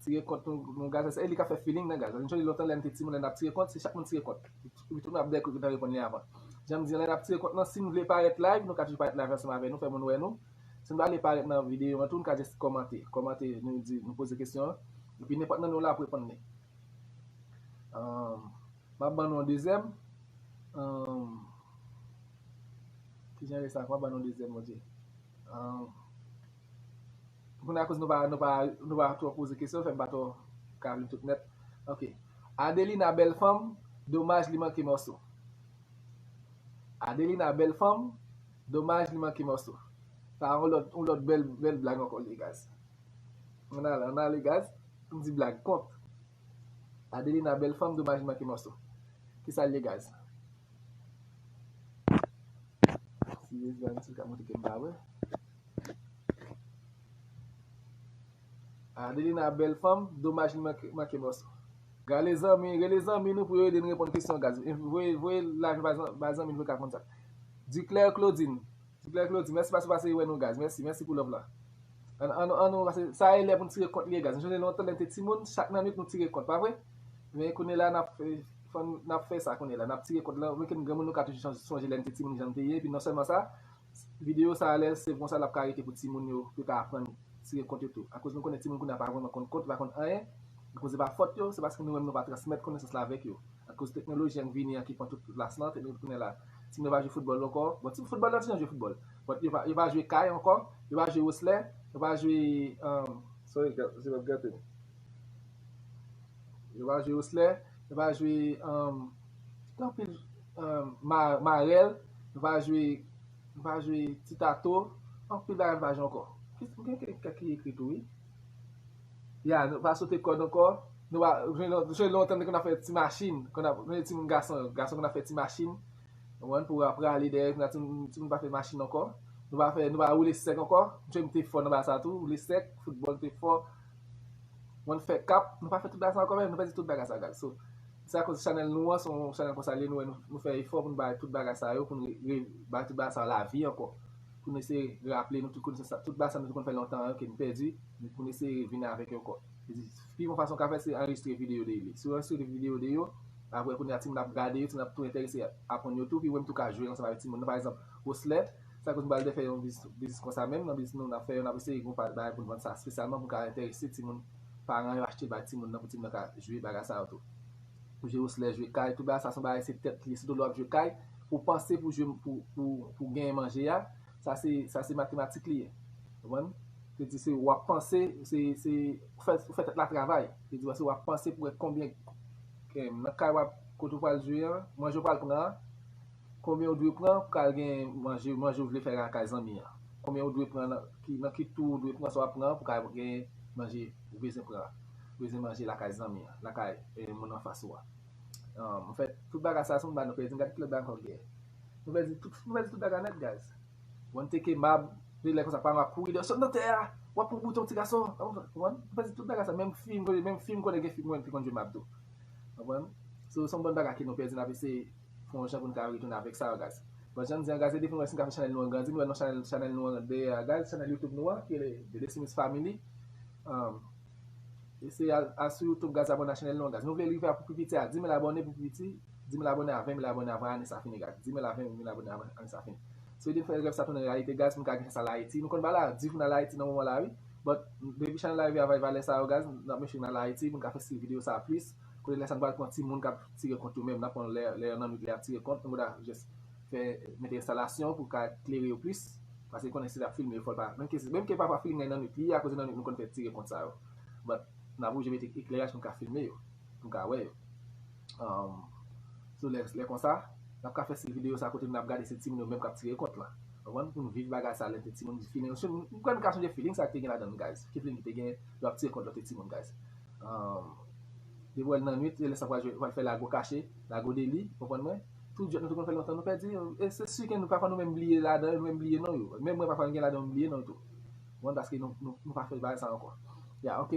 Tire kont nou gaz se li ka fè feeling nan gaz. Ancholi lontan lèm te timoun lè nap tire kont se chak moun tire kont. Epi tout nou ap dèkou etan reponn li avan. Janm di lè nap tire kont nan sin vle parèt live nou ka toujou parèt live ansanm avè nou fè moun wè nou. Sin pa vle parèt nan video an tou nou ka just kòmante. Kòmante nou di nou poze kesyon an. Epi nenpòt nan nou la ap reponn li. Map ban nou yon dezyèm. Kijan rès la map ban nou yon dezyèm bondye. Pou kounya akoz nou pa nou pa nou pa twò poze kesyon fè m pa twò ka li tout nèt ok Adelina bèl fanm domaj li manke mòso Adelina bèl fanm domaj li manke mòso sa yon lòt yon lòt bèl bèl blag ankò liye gaz ann ale ann ale gaz pou m di blag kont Adelina bèl fanm domaj li manke mòso kisa l ye gaz si rezan si l ka montre ke m pa wè. Adelina bèl fanm, domaj li manke mòso. Rele zanmi nou pou yo ede n reponn kesyon gaz. Voye laj ba zanmi nou pou yo ka konn sa. Duclaire Claudine, mèsi paske w pase wè nou gaz. Mèsi pou love la. Sa e lè pou n tire kont li ye gaz. M sonje lontan lè m te timoun, chak nan nwit nou tire kont, pa vre? Men kounye la n ap fè sa kounye la. N ap tire kont la. Mwen ki m granmoun nou ka toujou sonje lè n te timoun jan n te ye. Epi non sèlman sa. Video sa alèz se konsa lap ka rete pou timoun yo yo ka aprann tire kont yo tou akoz nou konnen timoun kounya pa vrèman konn kont yo pa konn anyen akoz se pa fòt yo se paske nou menm nou pa transmèt konesans la avèk yo akoz teknoloji an k vini an ki pran tout plas lan teknoloji kounya la timoun yo pa jwe foutbòl ankò bon ti foutbòl nan ti jan jwe foutbòl but yo pa yo pa jwe kay ankò yo pa jwe woslè yo pa jwe umm sorry gal se wap gate yo pa jwe woslè yo pa jwe umm gen anpil Marèl m va jwe m va jwe ti tato anpil bagay m va jwe ankò gen kèk ki ekri tou wi ya nou va sote kòd ankò nou va jwe lè ou tande konn ap fè ti machin konn ap jwe timoun gason yo gason konn ap fè ti machin konprann pou yo prale dèyè kounya timoun pa fè machin ankò nou va fè nou va woule sèk ankò jwe m te fò nan bagay sa tou woule sèk foutbòl m te fò konn fè kap nou pa fè tout bagay sa ankò menm nou pèdi tout bagay sa gad so. Se akoz chanèl nou an se yon chanèl konsa li ye nou wè nou fè efò pou nou bay tout bagay sa yo pou nou bay tout bagay sa yo lavi ankò pou nou eseye raple nou tout konesans sa tout bagay sa nou te konn fè lontan yo ke nou pèdi pou nou eseye vini avèk yo ankò pi bon fason ou ka fè se anrejistre videyo de yo si ou anrejistre videyo de yo aprè kounye a timoun ap gade yo timoun ap tou enterese aprann yo tou pi ou menm tou ka jwe ansanm avèk timoun nan pa egzanp Roslè se akoz nou pral defè yon biznis konsa menm nan biznis nou nan ap fè yo n ap eseye gen yon bagay pou nou vann sa espesyalman pou nou ka enterese timoun. paran yo achte bay timoun nan pou timoun nan ka jwe bagay sa yo tou. Pou jwe oslè, jwe kay, tout bagay sa son bagay se tèt li, sitou lè wap jwe kay, pou panse pou jwe pou pou genyen manje a, sa se sa se matematik li ye. Konprann? Se di se wap panse, se se ou fè ou fè tèt la travay. Se di wè se wap panse pou wè konbyen nan kay wap kote ou pral jwe an, manje ou pral pran an, Konbyen ou dwe pran pou kal gen manje manje ou vle fè lakay zanmi an? Konbyen ou dwe pran nan ki nan ki tou ou dwe pran sa wap pran pou ka gen manje ou bezwen pran bezwen manje lakay zanmi an lakay e moun anfas ou a an fèt tout bagay sa se yon bagay nou pèdi gad ki lòt bagay ankò gen nou pèdi tout nou pèdi tout bagay nèt guys wan teke mab de lè konsa pa mab kouri deyò sot nan tè a wap pran bouton ti gason wan nou pèdi tout bagay sa menm fi menm fi m konnen gen fi mwen fi konn jwe mab tou wap konprann so se yon bon bagay ke nou pèdi nap eseye fon yon jan pou nou ka retounen avèk Sargaz. Bon jan nou di Angaz e depi nou wè si nou ka fè chanèl nou an grandi nou wè non chanèl chanèl nou an ret dèyè Agaz chanèl YouTube nou an ki rele The Destimix Family um eseye al al sou YouTube Gaz abòne a chanèl nou an Gaz nou vle rive a pou pi piti a 10000 abòne pou pi piti 10000 abòne a 20000 abòne avan ane sa fini Gaz 10000 a 20000 abòne avan ane sa fini si nou te fè rèv sa tounen reyalite Gaz pou nou ka gen chans al Ayiti nou konn pa al a di pou nou al Ayiti nan moman la wi but depi chanèl la rive avay valè sa yo Gaz nap make sure nou al Ayiti pou nou ka fè stil videyo sa plis. Kote lè sa n pral pran ti moun kap tire kont yo menm nap pran lè lè yo nan nwit lè yap tire kont nou ta jès fè mete enstalasyon pou ka klere yo plis paske konnen si lap filme yo fòl pa menm ke menm ke pafwa filme nan nwit li ye akoz se nan nwit nou konn fè tire kont sa yo but nap oblije mete ekleraj pou n ka filme yo pou n ka wè yo umm so lè lè konsa nap ka fè stil videyo sa kote nap gade se ti moun yo menm kap tire kont lan konprann pou n viv bagay sa lè n te ti moun m kwè n ka sonje feeling sa te gen ladan l guys ki feeling ki te gen lè wap tire kont lòt ti moun guys. Depi wè l nan nwit, se lè sa pral jwe, pral fè lago kache, lago deli, konprann mwen? Tout jwèt nou te konn fè lontan nou pèdi yo. E se si ke nou pafwa nou menm bliye ladan yo, nou menm bliye non yo. Menm mwen pafwa m gen ladan yo m bliye non yo tou. Konprann? Paske nou pa fè bagay sa ankò. Ya ok.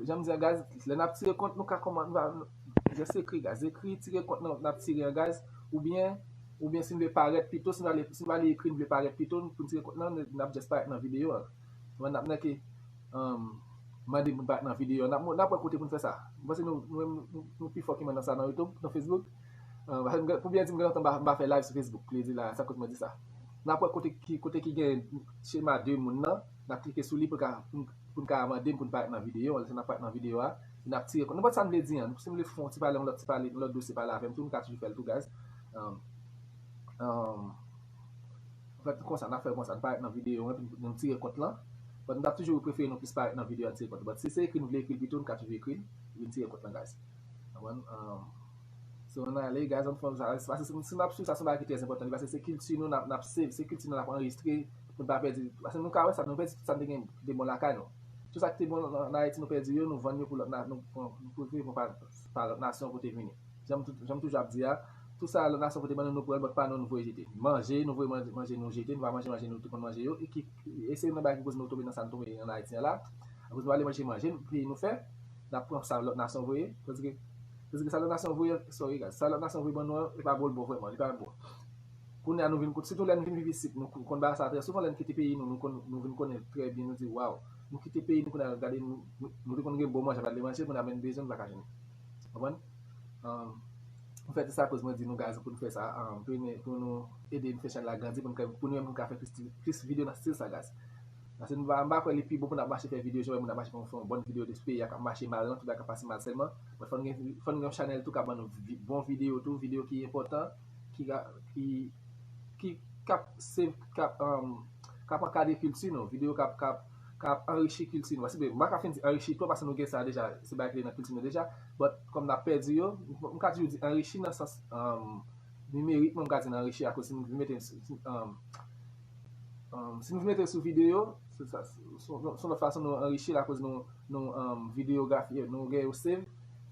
Jan m di an gaz, lè n ap tire kont nou ka kòman, nou va jès ekri gaz. Ekri tire kont nan n ap tire an gaz oubyen oubyen si n vle parèt pito, si n ale si n ale ekri n vle parèt pito pou n tire kont nan, n ap jès parèt nan videyo an. Pandan n ap nèke mande moun pa nan videyo an, n ap wè kote pou n fè sa. M panse nou menm nou pi fò ke mwen nan sa nan Youtube, nan Facebook. Pou byen di m gen lontan m pa fè live sou Facebook. Li di la, sa koz mwen di sa. N ap wè kote ki gen chema 2 moun nan, n ap klike sou li pou n ka mande m pou n parèt nan videyo an. Lè sa n ap parèt nan videyo a, e n ap tire kont. Nenpòt sa n vle di an. Si m vle fon ti pale yon lòt ti pale, yon lòt dosye pale avè m tou, nou ka toujou fè l tou guys. Anfèt, konsa n ap fè konsa, n parèt nan videyo an epi nou tire kont lan. But m ta toujou prefere nou plis parèt nan videyo a tire kont lan. But si se ekri nou vle ekri l pito, n ka toujou ekri l epi n tire kont lan guys. Konprann? So ann ale guys, ann fon sa. Pase si n ap swiv sa se yon bagay ki trè enpòtan li pase se kilti nou n ap save, se kilti nou n ap anrejistre pou n pa pèdi. Pase nou ka wè sa, nou pèdi tout sa n te gen ki te bon lakay nou. Tout sa ki te bon ann Ayiti nou pèdi yo, nou vann yo pou lòt na, nou pran pou nou pa lòt nasyon pote vini. Jan m toujou ap di a. Tout sa lòt nasyon pote ban nou, nou pran, lòt pa nou, nou voye jete. Manje, nou voye manje nou jete, nou pa manje manje nou te konn manje yo, e ki, e se youn nan bagay ki koz nou tonbe nan sa nou tonbe an Ayiti an la, akoz nou ale manje manje peyi nou fè, nap pran sa lòt nasyon voye, tandike, tandike sa lòt nasyon voye an, sorry guys, sa lòt nasyon voye ban nou an, li pa bon li bon vrèman, li pa bon. Kounye a nou vin, sitou lè nou vin viv isit, nou konn ba sa trè souvan, lè nou kite peyi nou, nou konn, nou vin konnen trè byen, nou di waw, nou kite peyi nou kounye a gade nou, nou te konn gen bon manje, nou pa ale manje, kounye a menm bezwen nou pa ka jwenn. Konprann? Mwen fè ti sa koz mwen di nou gazi poun fè sa vini pou nou ede fè chanèl la grandi poun pou nou menm nou ka fè plis video nan stil sa gazi. Paske m pa kwè li pi bon poun ap mache fè video jan wè moun ap mache fè yon bon video de peyi a kap mache mal lan tout bagay kap pase mal sèlman but fò nou gen yon chanèl tou kap ban nou bon video tou video ki enpòtan ki ka ki ki kap se kap kap ankadre kilti nou video kap kap ka ap anrichi kilti nou. M pa ka fin di anrichi twòp paske nou gen sa deja, se bagay ki te nan kilti nou deja, but kòm n ap pèdi yo, m ka toujou di anrichi nan sans nimerikman m ka di n anrichi akoz si nou vin mete l sou si nou vin mete l sou videyo, son lòt fason nou anrichi l akoz nou videyografi yo, nou gen yo save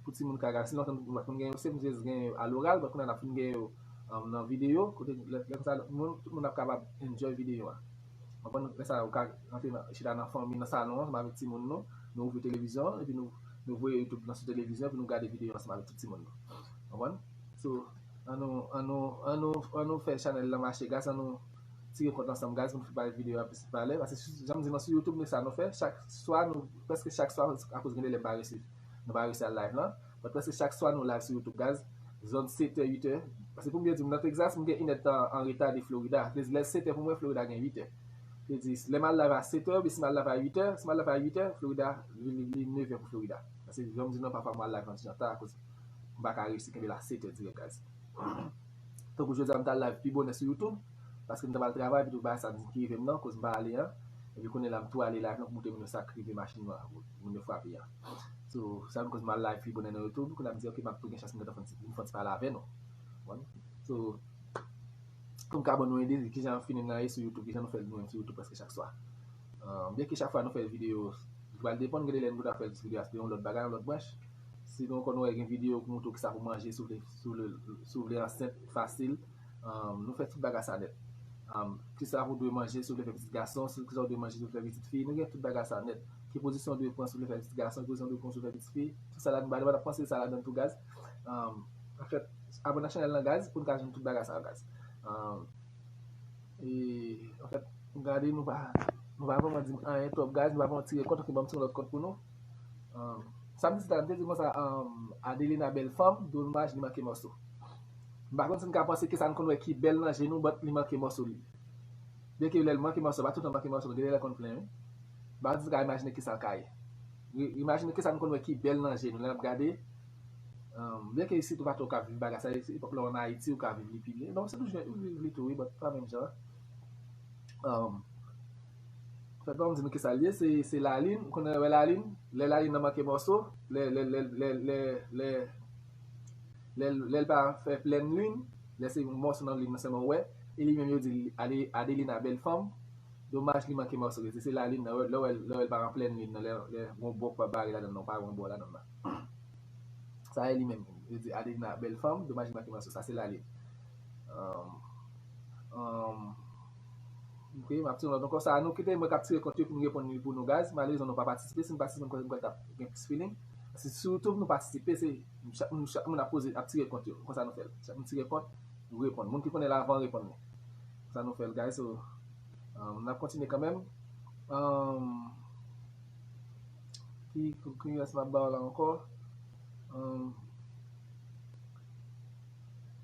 pou timoun ka gade. Si lontan nou pa t konn gen yo save, nou te jis gen yo aloral, but kounya n ap fin gen yo nan videyo kote lè konsa tout moun ap kapab enjoy videyo a. Mwen konn lè sa ou ka rantre nan chita nan fanmi nan salon an ansanm avèk timoun nou, nou ouvri televizyon an epi nou nou voye youtube nan sou televizyon epi nou gade videyo ansanm avèk tout timoun nou. Konprann? So an nou an nou an nou an nou fè chanèl lan mache guys an nou tire kont ansanm guys pou nou bay videyo a plis valè paske si janm di nou sou youtube nou sa nou fè chak swa nou prèske chak swa akoz gen de lè m pa resi nou pa resi al live lan Mwen prèske chak swa nou live sou youtube guys zòn 7 è 8 è paske poum byen diw nan Texas m gen inèd tan an reta de Florida vle di lèl 7 è pou mwen Florida gen 8 è vle di lè mal live a 7 è oubyen si mal live a 8 è si mal live a 8 è Florida li 9 è pou Florida paske janm di nou an pafwa mwen al live nan ti jan ta akoz m paka reyisi kenbe la 7 è dirèk guys tankou jodi a m tal live pi bonè sou youtube paske m ta pral travay epitou bagay sa ki rivem nan koz m pa ale an epi kounye la m tou ale live nan pou montre moun yo sak rive machin mwen moun yo frape an. So sa ki koz m al live pi bonè nan youtube kounye a m di ok m ap tou gen chans m gentan fon ti m fon ti pale avè nou ou konn So pou m ka ban nou ide de kijan feeling lan ye sou youtube kijan nou fè l nou menm sou youtube prèske chak swa Byen ke chak fwa nou fè videyo li pral depann gen de lè nou ta fè l sou videyo a se te yon lòt bagay yon lòt branch Si nou konn wè gen videyo ki montre w kisa pou manje si w vle ansent fasil Nou fè tout baga sa nèt Kisa ou dwe manje si ou vle fè pitit gason Kisa ou dwe manje si ou vle fè pitit fi Nou gen tout baga sa nèt Ki pozisyon ou dwe pran si ou vle fè pitit gason Ki pozisyon ou dwe pran si ou vle fè pitit fi Tout sa la nou ba nou Nap panse sa ladan tou gaz Anfèt abòne ak chanèl lan gaz Poun ka jwenn tout baga sa yo gaz Anfèt gade nou pa Nou pa vreman dim anyen twòp gaz Nou pa vreman tire kont ok banm ti yon lòt kont pou nou. Sam di la m te di konsa Adelina bèl fanm domaj li manke mòso m pa konn si n ka panse ke sa n konn wè ki bèl nan je nou but li manke mòso li byen ke lè l manke mòso pa toutan l manke mòso gen lè l konn plen wi m pa konn si n ka imajine kisa l ka ye imajine kisa n konn wè ki bèl nan je nou lè n ap gade byen ke isit ou pa twò ka viv bagay sa epòk lè w an Ayiti ou ka viv li pi byen non se tou jan ou viv li tou wi but pa menm jan an. Fè kòm di nou kisa l ye, se lalin, m konnen wè lalin, lè lalin nan manke mòso, lè lè l pa fè plèn lin, lè se yon mòso nan lin nan sèlman w wè, e li menm yo di l Adelina bèl fanm, domaj li manke mòso, se lalin nan, lè w wè l pa nan plèn lin nan, lè yon bò k pa bare ladan l nan, w pa wè yon bò ladan l nan. Sa e li menm, yo di Adelina bèl fanm, domaj li manke mòso, sa se lalin. Ok map tire lòt ankò sa nou kite mwen kap tire kont yo pou nou reponn li pou nou guys malerezman nou pa patisipe si nou patisipe m kwè m kwè tap gen plis feeling paske sou youtube nou patisipe se chak moun chak moun ap poze ap tire kont yo konsa nou fèl chak moun tire kont nou reponn moun ki konnen l avan reponn li konsa nou fèl guys so umm nap kontinye kanmenm umm ki ki rès map baw la ankò umm.